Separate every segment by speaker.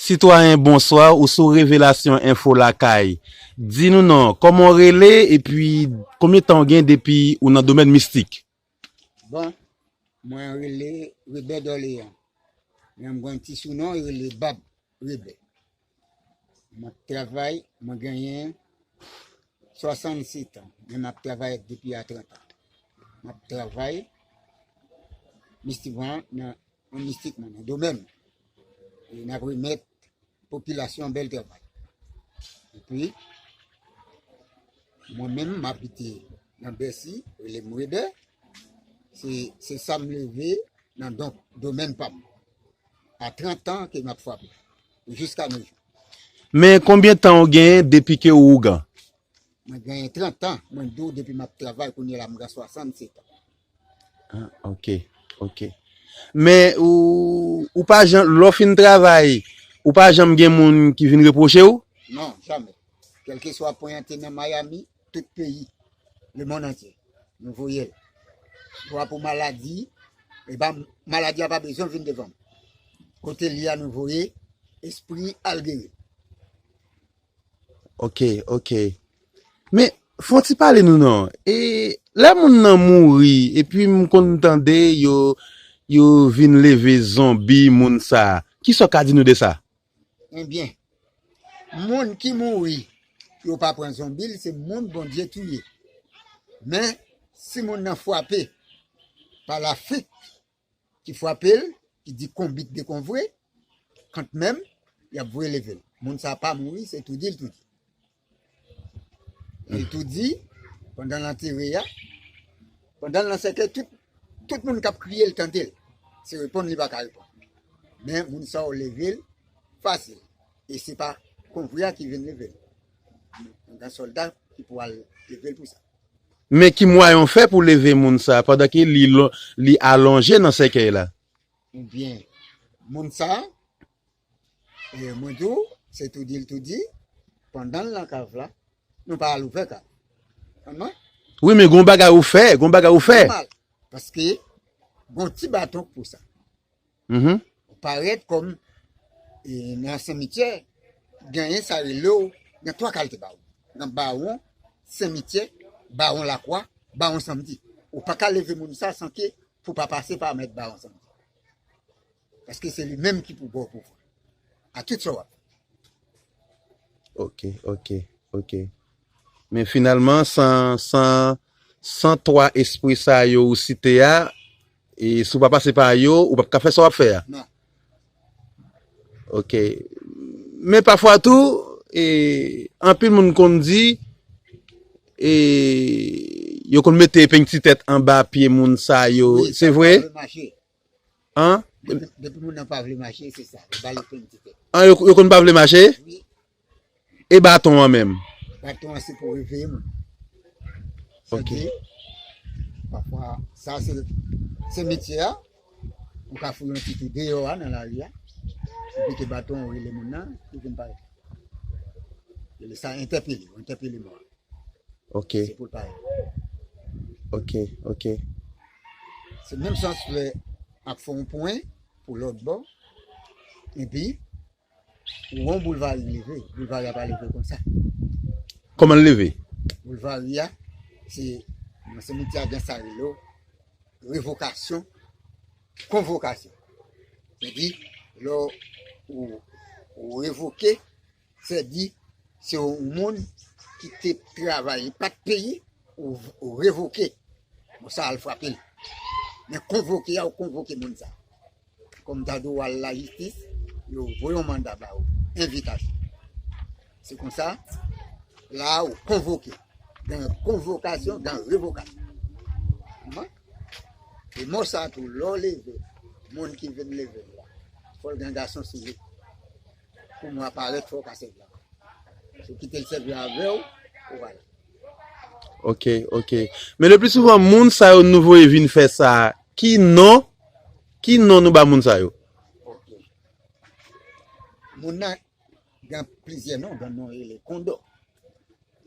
Speaker 1: Sitwayen bonswa ou sou revelasyon enfo lakay di nou non koman ou rele epi konbyen tan ou gen depi ou nan domèn mistik. Bon
Speaker 2: mwen rele rebè dòleyan men mwen gen yon ti sou non yo rele bab rebè mwen ap travay mwen genyen 67 ans men map travay depi a 30 ans map travay mistik mwen nan An mistik mwen nan do menm. E nap remèt popilasyon bèl travay. E pi, mwen menm m abite nan Bèsi, rele m Webè, se sa m leve nan donk do menm pa m. A 30 an ke m ap frape, jiska nou jou. Men
Speaker 1: konbyen tan ou genyen depi ke ou ougan? Mwen genyen
Speaker 2: 30 an, mwen di w depi m ap travay, kounye la m gen 67 an. Ah, ok,
Speaker 1: ok. Men ou, ou pa jan, lò fin travay, ou pa janm gen moun ki vin reproche ou? Non, jamè.
Speaker 2: Kelke swa poyante nan Miami, tout peyi, le mond antye, nou voye l. Swa pou maladi, e pa, maladi a pa bezwen vin devan m. Kote li a nou voye, espri al geri l.
Speaker 1: Ok, ok. Men, fon ti pale nou non. E, lè moun nan mouri, epi m konn tande yo, yo vin leve zonbi moun sa, ki sa w ka di nou de sa? Enbyen,
Speaker 2: moun ki mouri, yo pa pran zonbi l, se moun Bondye touye. Men, si moun nan fwape pa lafrik, ki frape l, ki di konbit de kon vre, kant menm, y ap voye leve l. Moun sa a pa mouri, se tou di l tou di. Li tou di, pandan l antere a, pandan l nan sèkèy, tout moun k ap kriye l tande l. Se reponn li pa ka reponn. Men, moun sa yo leve l fasil. E se pa kon vre a ki vin leve l. Gen sòlda ki pou al leve l pou sa. Men ki
Speaker 1: mwayen w fè pou w leve moun sa a pandan ke li alonje nan sèkèy la? Ou byen,
Speaker 2: moun sa a, e mwen di w, se tou di l tou di, pandan l lan kav la, nou pa al ouvè kav. Konn mwen?
Speaker 1: Wi, men gon bagay ou fè, gon bagay ou fè. Nòmal,
Speaker 2: paske gon ti baton k pou sa. Uhmm.
Speaker 1: Ou parèt
Speaker 2: kòm nan simityè genyen sa relew gen 3 kalte bawon. Gen bawon simityè, bawon lakwa, bawon samdi. Ou paka leve moun sa san ke pou pa pase pa mèt bawon samdi. Paske se li menm ki pou baw pouvwa. A tout sa wap fè.
Speaker 1: Ok ok ok. Men finalman san san san 3 espri sa yo ou site a E si w pa pase pa yo, ou p ap ka fè sa w ap fè a? Non.
Speaker 2: Ok.
Speaker 1: Men pafwa tou, e, anpil moun konn di, e, yo konn mete epeng ti tèt anba pye moun sa yo, se vre? Depi
Speaker 2: moun
Speaker 1: nan pa vle mache. An? Depi
Speaker 2: moun nan pa vle mache, se sa, yo ba l epeng ti tèt. An,
Speaker 1: yo konn pa vle mache? Wi.
Speaker 2: E
Speaker 1: baton an menm? Baton an se pou
Speaker 2: reveye moun.
Speaker 1: Ok. Se di,
Speaker 2: pafwa, sa se, se metye a, ou ka foure yon ti tou deyò a nan lari a, ou pete baton an ou rele moun nan, li vin pare. Rele sa entèpele, ou entèpele mò a. Ok.
Speaker 1: Se pou l pare.
Speaker 2: Ok, ok. Se menm sans lè ap fè yon pwen pou lòt bò, epi Won boulvari leve, boulvari a pa leve konsa. Koman l
Speaker 1: leve? Boulvari a,
Speaker 2: se nan semitye a gen sa yo rele revokasyon, konvokasyon. Se di, lè ou revoke, se di, se yon moun ki te travay, li pat peyi, ou revoke. Bon sa al frape l. Men konvoke a, ou konvoke moun sa. Kòm Dadou w al lajistis, yo voye yon manda ba ou, envitasyon. Se konsa, la a ou konvoke. Gen konvokasyon, gen revokasyon. Kouman? E mò sa tou, lè w leve, moun ki vin leve l la, fò l gen gason sou li. Pou mò a parèt, fò w ka sèvi avè l. Si w kite l sèvi avè w, ou ale.
Speaker 1: Ok, ok. Men leplisouvan, moun sa yo nou voye vin fè sa a, Ki non Ki non nou ba moun sa yo? Ok.
Speaker 2: Moun nan gen plizyè non, gen non rele Kondò.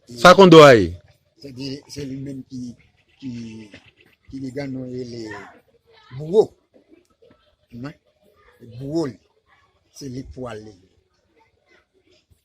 Speaker 1: Sa Kondò a ye? Se di se li
Speaker 2: menm ki ki ki li gen non rele Bouwo. Mwen Bouwo li. Se li k pou ale.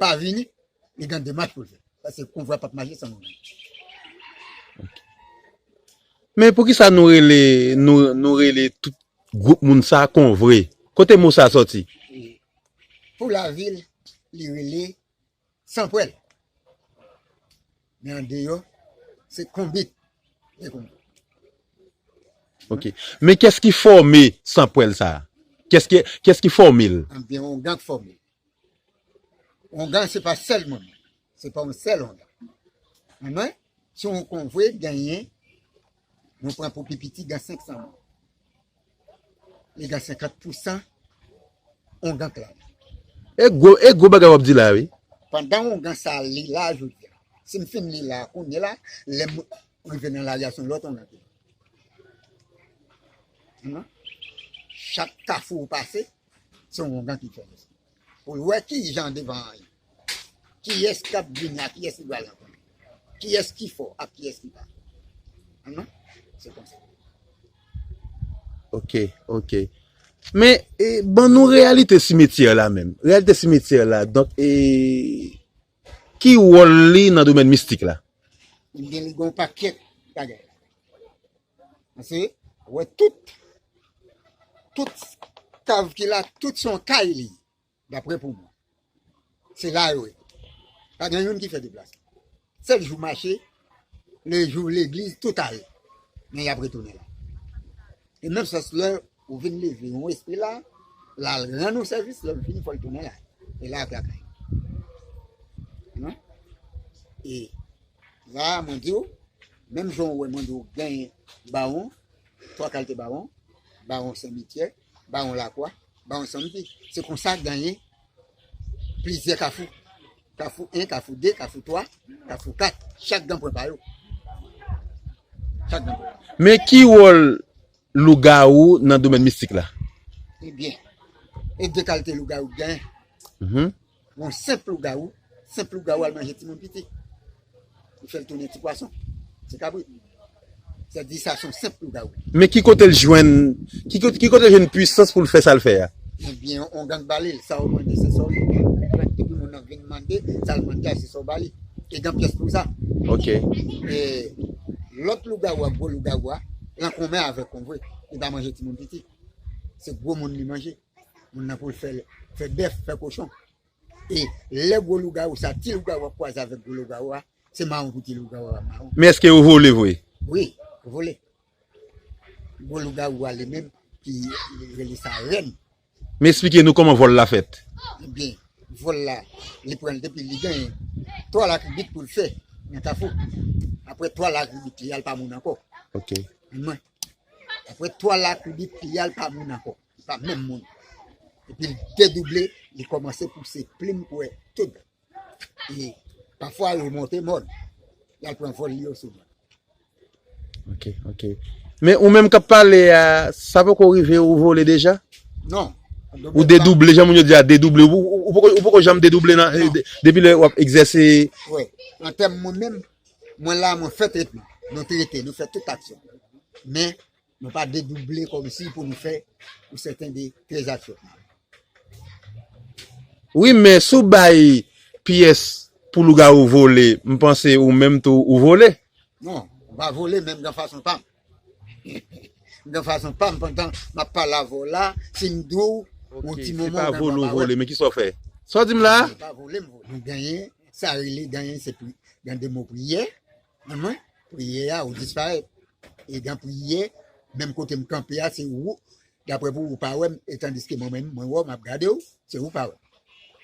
Speaker 2: pa vini li gen demach pou l fè paske konvwa pap mache san moun nan.
Speaker 1: Men poukisa nou rele nou rele tout gwoup moun sa konvre kote mo sa sòti?
Speaker 2: Pou lavil li rele san pwèl men andeyò se konbit li konbit.
Speaker 1: Ok men kès ki fòme san pwèl sa kès ki fòme l? Anbyen yon gang fòme
Speaker 2: l Ongan se pa sèl moun, se pa yon sèl ongan. Anmwey, si yon konvwe genyen, nou pran pou pi piti gen 500 moun. Li gen 50 pousan ongan k la. E gwo,
Speaker 1: e gwo bagay w ap di la wi. Pandan ongan sa
Speaker 2: li la jodi a, si m fin li la kounye la, lè m rive nan lari a se yon lòt ongan ki la. Chak kafou ou pase, Se yon ongan ki fè sa. Pou l wè ki jan devan an ye. Kiyès k ap vini ak kiyès li pral rankontre. Kiyès ki fò ak kiyès ki pa fò. Se konsa. Ok,
Speaker 1: ok. Men, ban nou reyalite simetyè la menm. Reyalite simetyè la. Donk, e, ki wòl li nan domèn mistik la? Li gen li gen
Speaker 2: yon pakèt bagay. Pase wè tout, tout kav ki la, tout se yon kay li ye, daprè pou mwen. Se la yo ye. Pa gen youn ki fè deplasman. Sèl jou mache, le jou legliz, tout ale. Men y ap retounen la. E menm sans lè Ou vin leve yon espri la, lal rann yon sèvis, lèl fini fòl tounen la. E la vla kay. Non? E la mwen diw, menm jan ou wè mwen diw gen bawon, 3 kalte bawon, bawon Sen Mityè, bawon Lakwa, bawon Sanmpi. Se konsa genyen plizyè kafou. Kafou 1, kafou 2, kafou 3, kafou 4. Chak gen pwen pa yo. Chak gen pwen. Men ki wòl
Speaker 1: Lougawou nan domèn mistik la. Ebyen,
Speaker 2: e de kalte lougawou ki genyen. Yon senp lougawou, senp lougawou al manje timoun piti. Li fè l tounen ti pwason, ti kabrit. Sa di sa son senp lougawou. Men ki kote l jwenn,
Speaker 1: ki kote l jwenn pwisans pou l fè sa l fè a? Ebyen, yon gang
Speaker 2: ba li l. Sa ou mande se sa ou jwenn. Epi moun nan vin mande, sa l mande a se sa ou ba li. E gen pyès pou sa. Ok. E lòt lougawou a, gwo lougawou a. pran konmè avèk konvwe li pa manje timoun piti se gwo moun li manje moun nan poul fèl fè bèf fè kochon e lè gwo lougawou sa ti lougawou ap kwaze avèk gwo lougawou a se mawon pou ti lougawou a mawon. Men eske yo vole vre?
Speaker 1: Wi yo vole
Speaker 2: gwo lougawou a li menm ki rele sa rèn Men esplike
Speaker 1: nou koman vol la fet. Ebyen
Speaker 2: vol la li pran depi li genyen 3 lakribit poul fe nan kafou apre 3 lakribit li al pa moun anko. Ok. Mwen. Apre 3 lakribit li al pa moun anko. Pa menm moun. Epil dedouble li komanse pouse plim kwe tout. E pafwa li monte mòn. Li al pran vòl li yo souvan. Ok, ok.
Speaker 1: Men ou menm kap pale a, sa poko rive ou vole deja? Non.
Speaker 2: Ou dedouble,
Speaker 1: jan moun yo di a, dedouble. Ou poko janm dedouble nan, non. depi lè wap egzèse? Wi. Nan
Speaker 2: tèm mwen menm, mwen la mwen fè tretman. Nou trete, nou fè tout aksyon. Men, Nou pa dedouble kòmsi pou nou fè ou sèten de trezat fèt nan.
Speaker 1: Wi men si w bay pyès pou lougawou vole m panse ou menm tou ou vole. Non, m pa
Speaker 2: vole men m gen fason pa m. M gen fason pa m pandan m ap pale avè w la si m di w yon ti moman ou menm w ap pa wè m. Ki
Speaker 1: sa w fè? Sa w di m la a? Mwen pa vole m vole. Mwen
Speaker 2: genyen sa rele genyen se pou gen de mo priyè. Nan mwen priyè a ou disparèt e gan priyè menm kote m kanpe a se ou daprè pou ou pa wè m etandiske mwen menm mwen wè w map gade w se ou pa wè m.